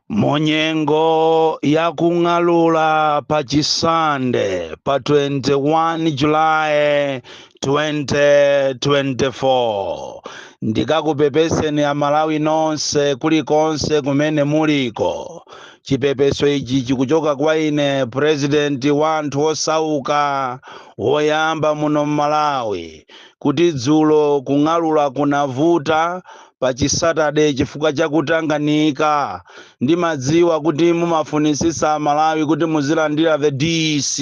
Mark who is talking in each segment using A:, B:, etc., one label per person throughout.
A: munyengo ya kung'alula pa chisande pa 21 julayi 2024 ndikakupepeseni amalawi nonse kulikonse kumene muliko chipepeso ichi chikuchoka kwa ine purezidenti wa anthu osauka woyamba muno mmalawi kuti dzulo kung'alula kunavuta pa chisatade chifukwa cha kutanganika ndimadziwa kuti mumafunitsitsa amalawi kuti muzilandira the dc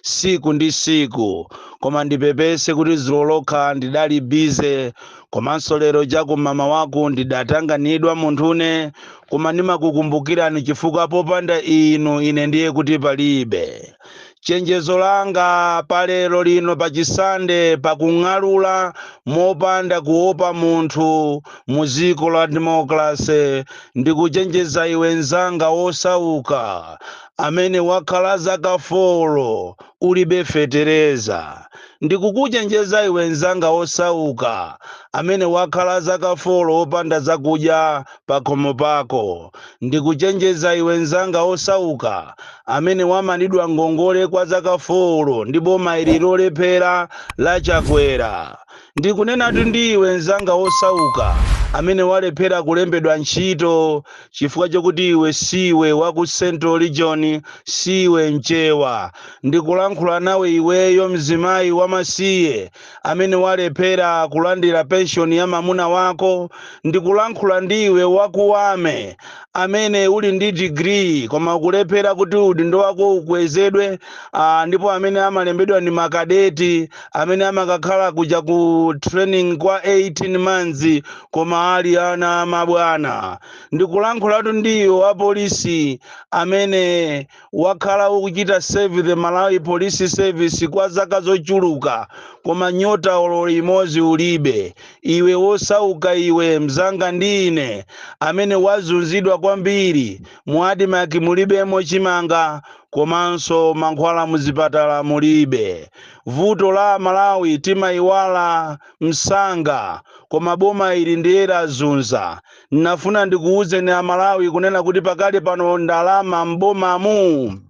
A: siku ndi siku koma ndipepese kuti dzulo lokha ndidali bize komanso lero chakummawaku ndidatanganidwa munthune koma ndimakukumbukirani chifukwa popanda inu ine ndiye kuti palibe Chenjezo langa pa lero lino pa chi Sande pa kung'alula mopanda kuopa munthu mu dziko la Democracy ndikuchenjeza iwe nzanga wosauka amene wakhala zaka folo ulibe fetereza. Ndikukuchenjeza iwe nzanga wosauka amene wakhala zaka folo wopanda zakudya pakhomo pako. Ndikuchenjeza iwe nzanga wosauka amene wamanidwa ngongole kwa zaka folo ndi boma ili lolephera la Chakwera. Ndikunenatu ndi iwe nzanga wosauka amene walephera kulembedwa ntchito chifukwa chokuti iwe siwe wa ku Central Region, siwe Mchewa. Ndikulankhula nawe iweyo mzimayi wamasiye. amene walephera kulandira penshoni ya mamuna wako, ndikulankhula ndi iwe wa ku army, amene uli ndi digiri koma ukulephera kuti udindo wako ukwezedwe, ah, ndipo amene amalembedwa ndi makadeti, amene amakakhala kuja ku training kwa 18 months, koma ali ana amabwana. Ndikulankhulatu ndi iwe wapolisi amene Wakhala ukuchita serve the Malawi Police Service kwa zaka zochuluka koma nyota olo imodzi ulibe. Iwe wosauka iwe mzanga ndi ine amene wazunzidwa kwambiri mu admarc mulibemo chimanga komanso mankhwala muzipatala mulibe. Vuto la amalawi timaiwala msanga koma boma ili ndiye lazunza. Nafuna ndikuuzeni a Malawi kunena kuti pakali pano ndalama m'bomamu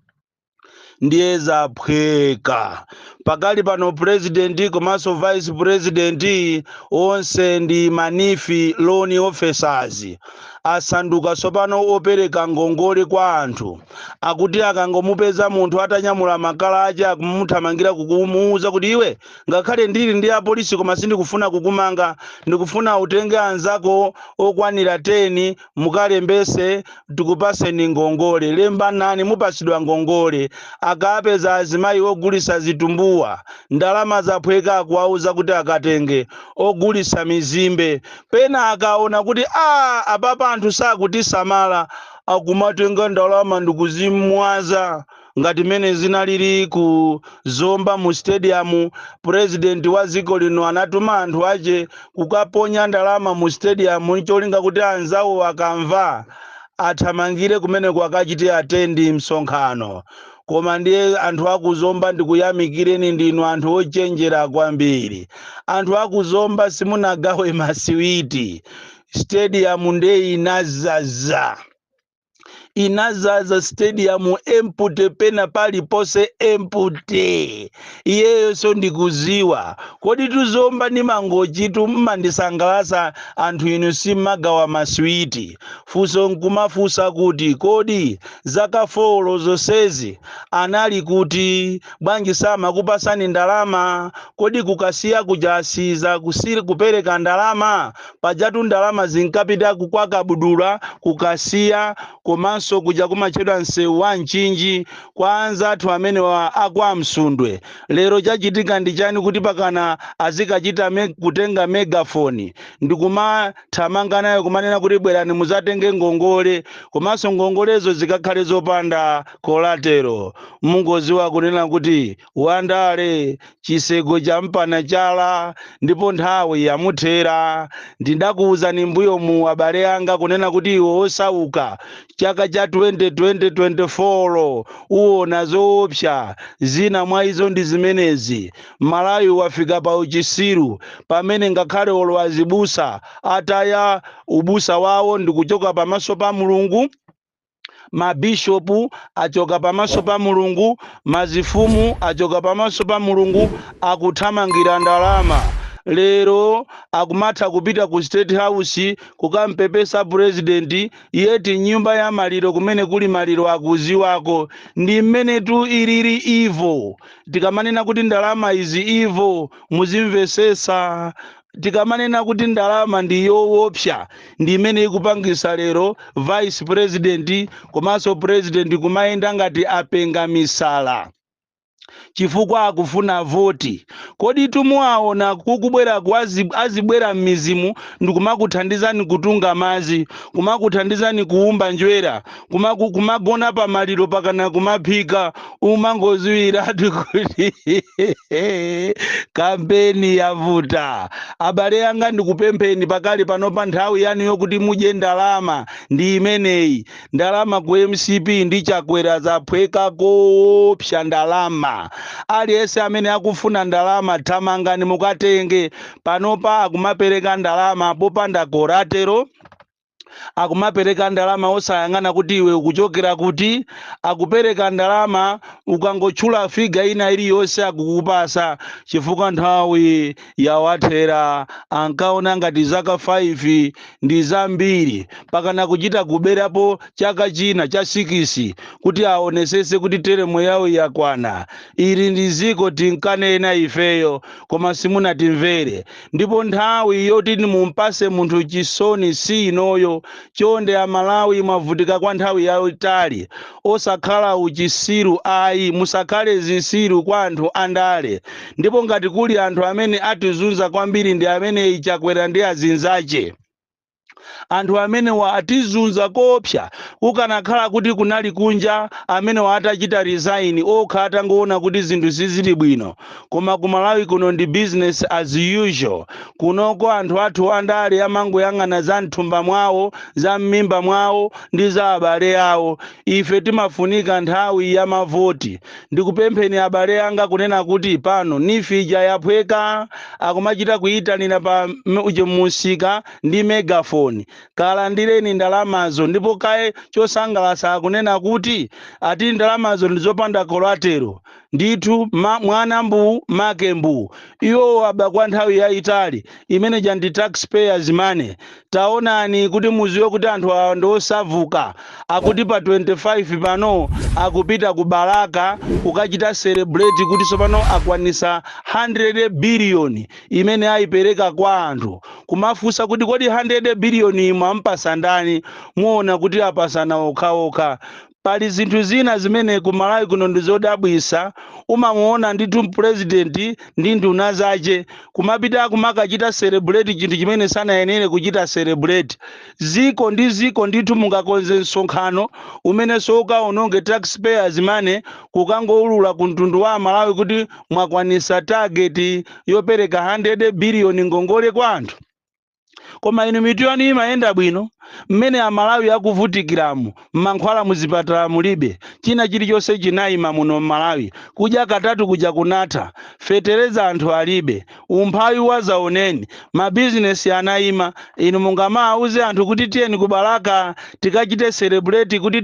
A: ndiye zaphweka. Pakali pano president komanso vice president onse ndi ma NEEF loan officers asanduka tsopano opereka ngongole kwa anthu akuti akangomupeza munthu atanyamula makala ache akumuthamangira kukumuuza kuti iwe ngakhale ndili ndi apolisi koma sindikufuna kukumanga ndikufuna utenge anzako okwanira 10 mukalembese tikupaseni ngongole lembanani mupasidwa ngongole akapeza azimayi ogulisa zitumbuwa ndalama zaphweka akuwauza kuti akatenge ogulisa mizimbe pena akaona kuti a apapa anthu sakutisamala akumatenga ndalama ndikuzimwaza ngati mmene zinalili ku zomba mu stadium president wa dziko lino anatuma anthu ache kukaponya ndalama mu stadium cholinga kuti anzawo akamva athamangire kumeneko akachite atendi msonkhano koma ndiye anthu akuzomba ndikuyamikireni ndinu anthu ochenjera kwambiri anthu akuzomba simunagawe masiwiti stadium nde inazaza inazaza stadium empute pena paliponse empute iyeyonso ndikuziwa koditu zomba ndi mangochitu mmandisangalasa anthu inu simagawa maswiti funso nkumafunsa kuti kodi zaka folo zonsezi anali kuti bwanji samakupasani ndalama kodi kukasiya kuchasiza kusi- kupereka ndalama Pajatu ndalama zinkapita ku kwa Kabudula, ku Kasiya komanso kuja kumachedwa msewu wa Mchinji kwa anzathu amenewa a kwa Msundwe. Lero chachitika ndi chani kuti pakana azikachita kutenga megaphone ndikumathamanga nayo kumanena kuti bwerani muzatenge ngongole komanso ngongolezo zikakhale zopanda collateral. Mungoziwa kunena kuti Wandale chiseko chamupana chala ndipo nthawi yamuthera. Ndidakuuzani mmbuyomu abale anga kunena kuti iwe osauka chaka cha 2024 uwona zoopsa. Zina mwa izo ndi zimenezi. Malawi wafika pa uchisiru pamene ngakhale olo azibusa ataya ubusa wawo ndikuchoka pamaso pa Mulungu. Mabishopu achoka pamaso pa Mulungu, mazifumu achoka pamaso pa Mulungu, akuthamangira ndalama. Lero akumatha kupita ku state house kukampepesa president yet mnyumba ya maliro kumene kuli maliro akuziwako. Ndi mmenetu ilili evil. Tikamanena kuti ndalama is evil muzimvesesa. tikamanena kuti ndalama ndi yowopsa ndi imene ikupangisa lero vice president komanso president kumayenda ngati apenga misala chifukwa akufuna voti koditu muwaona kukubwera kwazi- azibwera m'mizimo ndikumakuthandizani kutunga mazi kumakuthandizani kuumba njwera kuma- ku- kumagona pa maliro pakana kumaphika umangoziwiratu kuti kampeni yavuta abale anga ndikupempheni pakali pano pa nthawi yanu yokuti mudye ndalama ndi imeneyi ndalama ku mcp ndi chakwera zaphweka koopsa ndalama aliyense amene akufuna ndalama thamangani mukatenge panopa akumapereka ndalama popanda koratero akumapereka ndalama osayang'ana kuti iwe ukuchokera kuti akupereka ndalama ukangotchula figa ina iliyonse akukupasa chifukwa nthawi yawathera ankaona ngati zaka 5 ndi zambiri pakana kuchita kuberapo chaka china cha sikisi kuti aonesese kuti teremo yawo yakwana ili ndi ziko tinkanena ifeyo koma simunatimvere Ndipo nthawi yoti mumpase munthu chisoni si inoyo chonde amalawi mwavutika kwa nthawi yaitali osakhala uchisiru ayi musakhale zisiru kwa anthu andale ndipo ngati kuli anthu amene atizunza kwambiri ndi ameneyi chakwera ndi azinzache. Anthu amenewa atizunza koopsa, kukanakhala kuti kunali kunja amenewa atachita resign okha atangoona kuti zinthu sizili bwino, koma ku Malawi kuno ndi business as usual, kunoko anthu athu andale amangoyang'ana za mthumba mwawo, za mmimba mwawo ndi za abale awo, ife timafunika nthawi ya mavoti. Ndikupempheni abale anga kunena kuti pano NEEF ija yaphweka akumachita kuyitanira pa msika ndi megaphone. Kalandireni ndalamazo ndipo kaye chosangalatsa akunena kuti ati ndalamazo ndizopanda collateral. Ndithu mwana mbuu make mbuu. Iwo aba kwa nthawi yayitali imene ija ndi tax payers money taonani kuti muziwe kuti anthu awa ndi osavuka akuti pa 25 pano akupita ku balaka kukachita celebrate kuti tsopano akwanisa 100 billion imene ayipereka kwa anthu kumafunsa kuti kodi 100 billion iyi mwampasa ndani muona kuti apasana okhaokha Pali zinthu zina zimene ku Malawi kuno ndi zodabwisa, umamuona ndithu president ndi nduna zache kumapita kumakachita celebrate chinthu chimene sanayenere kuchita celebrate. Ziko ndi ziko ndithu mungakonze msonkhano umenenso ukaononge tax payers money kukangoulula ku mtundu wa amalawi kuti mwakwanisa target yopereka 100 billion ngongole kwa anthu? koma inu mitu yanu imayenda bwino mmene amalawi akuvutikiramu mankhwala muzipatala mulibe china chilichonse chinaima muno mmalawi kudya katatu kuja kunatha fetereza anthu alibe umphawi wazaoneni mabizinesi anaima inu mungamaauze anthu kuti tiyeni ku balaka tikachite celebrate kuti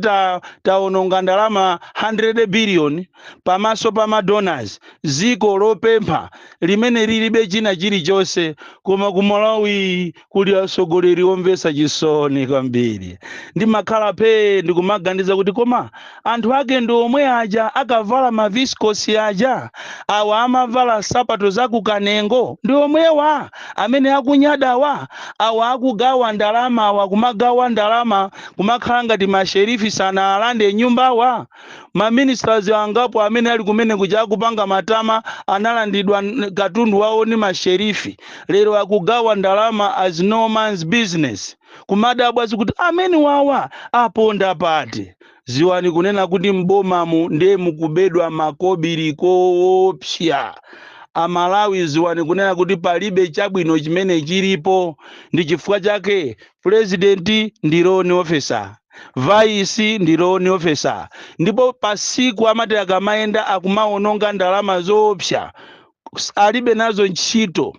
A: taononga ndalama 100 billion pamaso pa madonors ziko lopempha limene lilibe china chilichonse koma ku malawi kuli asogoleri omvesa chisoni kwambiri ndimakhala phee ndikumaganiza kuti koma anthu ake ndi omwe aja akavala maviskosi aja awa amavala sapato za kukanengo ndi omwewa amene akunyadawa awa akugawa ndalama awa kumagawa ndalama kumakhala ngati masherifi sanaalande nyumbawa Ma ministers angapo amene ali kumene kuja akupanga matama analandidwa katundu wawo ni masherifi. Lero akugawa ndalama as no man's business. Kumadabwa zikuti amene wawa aponda pati? Ziwani kunena kuti m'bomamu nde mukubedwa makobili koopsya. A Malawi ziwani kunena kuti palibe chabwino chimene chilipo. Ndi chifukwa chake Pulezidenti ndi loan officer, vice ndi loan officer ndipo pasiku amati akamayenda akumawononga ndalama zoopsa alibe nazo ntchito.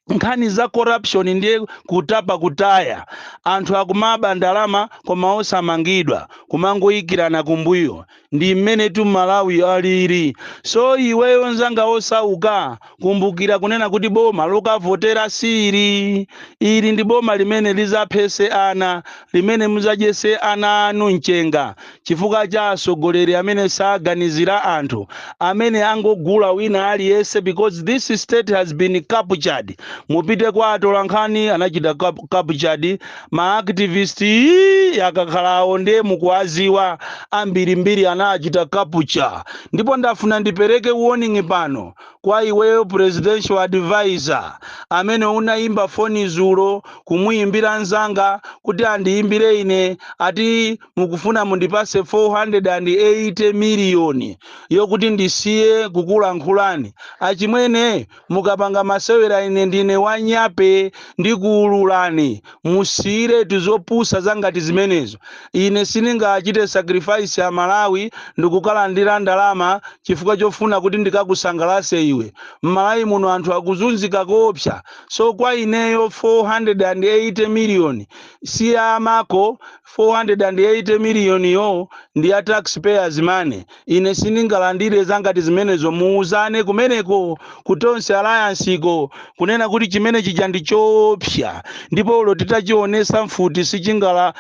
A: Nkhani za corruption ndiye kutapa kutaya. Anthu akumaba ndalama koma osamangidwa, kumangoikirana kumbuyo. ndi mmene tu malawi alili so iweyo nzanga osauka kumbukira kunena kuti boma lokavotera siili ili ndi boma limene lizaphese ana limene muzadyese ana anu mchenga chifukwa cha asogoleri amene saganizira anthu amene angogula wina aliyese because this state has been captured mupite kwa atolankhani anachita captured ma activist ii akakhala awo nde mukuwaziwa ambirimbiri anachita capture ndipo ndafuna ndipereke warning pano kwa iweyo presidential advisor amene unayimba foni zulo kumuyimbira nzanga kuti andiyimbire ine ati mukufuna mundipase 480 million yokuti ndisiye kukulankhulani achimwene Mukapanga masewera ine ndine wanyape ndikuululani. Musiyiretu zopusa zangati zimenezo. Ine sindingachite sacrifice a Malawi ndikukalandira ndalama chifukwa chofuna kuti ndikakusangalase iwe. M'Malawi muno anthu akuzunzika koopsa so kwa ineyo 480 million si ya amako, 480 million yo ndi ya tax payers money. Ine sindingalandire za ngati zimenezo. Muwuzane kumeneko ku Tonse Alliance ko, kunena kuti chimene chija ndi choopsa, ndipo olo titachiwonetsa mfuti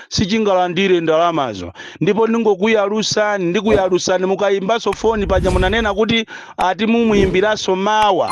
A: sichingalandire ndalamazo. Ndipo ndingokuyalusani, ndikuyalusani, mukayimbanso foni paja munanena kuti ati mumuimbiranso mawa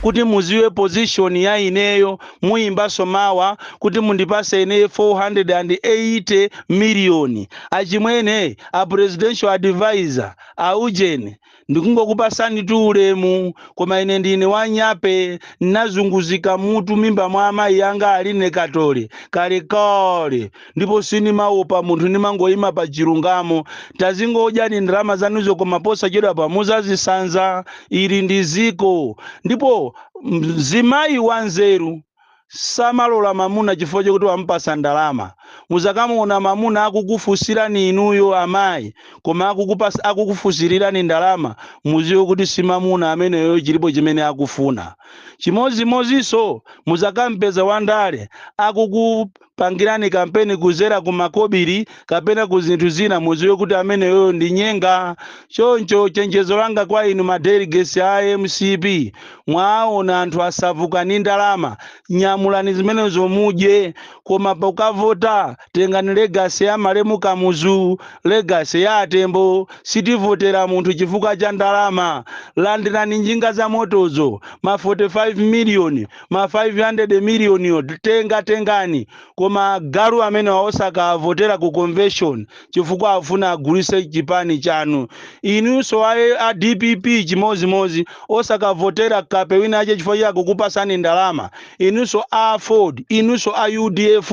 A: kuti muziwe position ya ineyo. Muyimbanso mawa kuti mundipase ine 480 million. Achimwene, a presidential advisor, a ujeni, ndikungokupasanitu ulemu koma ine ndine wa nyape nazunguzika mutu mimba mwa amayi anga aline katole kalekale ndipo sinimawopa munthu ndimangoyima pa chilungamo. Tazingodyani ndalama zanuzo koma posachedwapa muzazisanza. Ili ndi ziko ndipo mzimayi wanzeru samalola mamuna chifukwa chokuti wamupasa ndalama muzakamuona mamuna akukufusirani inuyo amayi koma akukufusirirani ndalama muziwe kuti si mamuna ameneyo chilipo chimene akufuna chimozimozinso muzakampeza wandale akuku pangirani kampeni kuzera ku makobiri kapena ku zinthu zina muziwe kuti ameneyoyo ndi nyenga choncho chenjezo langa kwa inu madelegates a mcp mwaona anthu asavuka ni ndalama nyamulani zimenezo mudye koma pokavota tengani legacy ya malemu kamuzu legacy ya atembo sitivotera munthu chifukwa cha ndalama landirani njinga za motozo ma 45 miliyoni ma 500 miliyoniwo tengatengani koma agalu amenewa osakawavotera ku convention chifukwa afuna agulise chipani chanu inunso a dpp chimozimozi osakavotera kape wina ache chifukwa cha kukupasani ndalama inunso a aford inunso a udf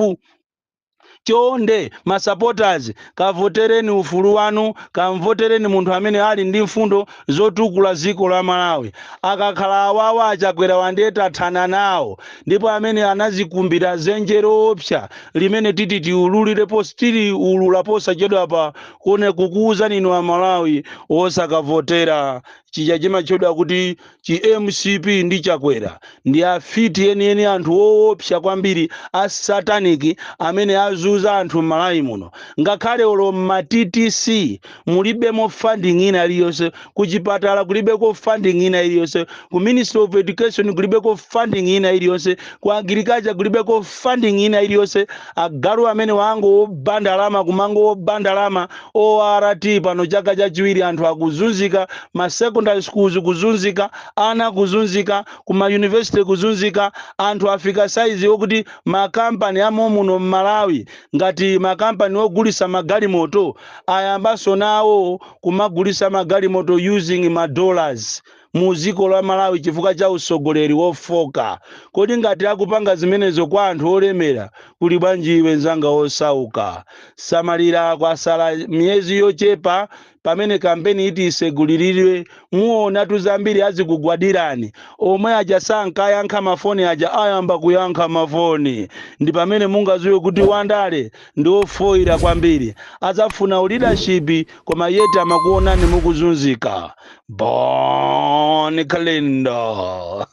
A: chonde ma supporters kavotereni ufulu wanu kamvotereni munthu amene ali ndi mfundo zotukula ziko la malawi akakhala awawa achakwerawa ndiye tathana nawo ndipo amene anazikumbira zenje loopsa limene titi tiululirepo s tiliulula posachedwapa kone kukuuzani inu amalawi osakavotera chija chimatchedwa kuti Chi mcp ndi Chakwera ndi afiti enieni anthu oopsa kwambiri a satanic amene azuza anthu mmalawi muno ngakhale olo mma ttc mulibemo funding ina iliyonse ku chipatala kulibeko funding ina iliyonse ku ministry of education kulibeko funding ina iliyonse ku agriculture kulibeko funding ina iliyonse agalu amenewa angooba ndalama kumangoba ndalama ORT pano chaka chachiwiri anthu akuzunzika, ma secondary schools kuzunzika, ana kuzunzika, ku ma university kuzunzika, anthu afika size yokuti ma company a momuno m'Malawi ngati ma company ogulisa magalimoto ayambanso nawo kumagulisa magalimoto using ma dollars. mu ziko la Malawi chifukwa cha usogoleri wofoka. Kodi ngati akupanga zimenezo kwa anthu olemera kuli bwanji iwe mnzanga osauka. Samalira kwasala miyezi yochepa pamene kampeni iti isegulilidwe muonatu zambiri azikugwadirani. Omwe aja sankayankha mafoni aja ayamba kuyankha mafoni. Ndi pamene mungaziwe kuti Wandale ndi ofoira kwambiri. Azafuna u leadership koma yet amakuonani mukuzunzika. Bon Kalindo,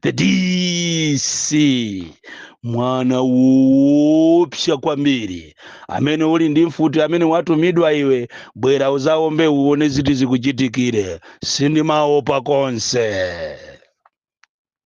A: the DC, mwana woopsa kwambiri amene uli ndi mfuti amene watumidwa iwe bwera uzaombe uone ziti zikuchitikire sindimaopa konse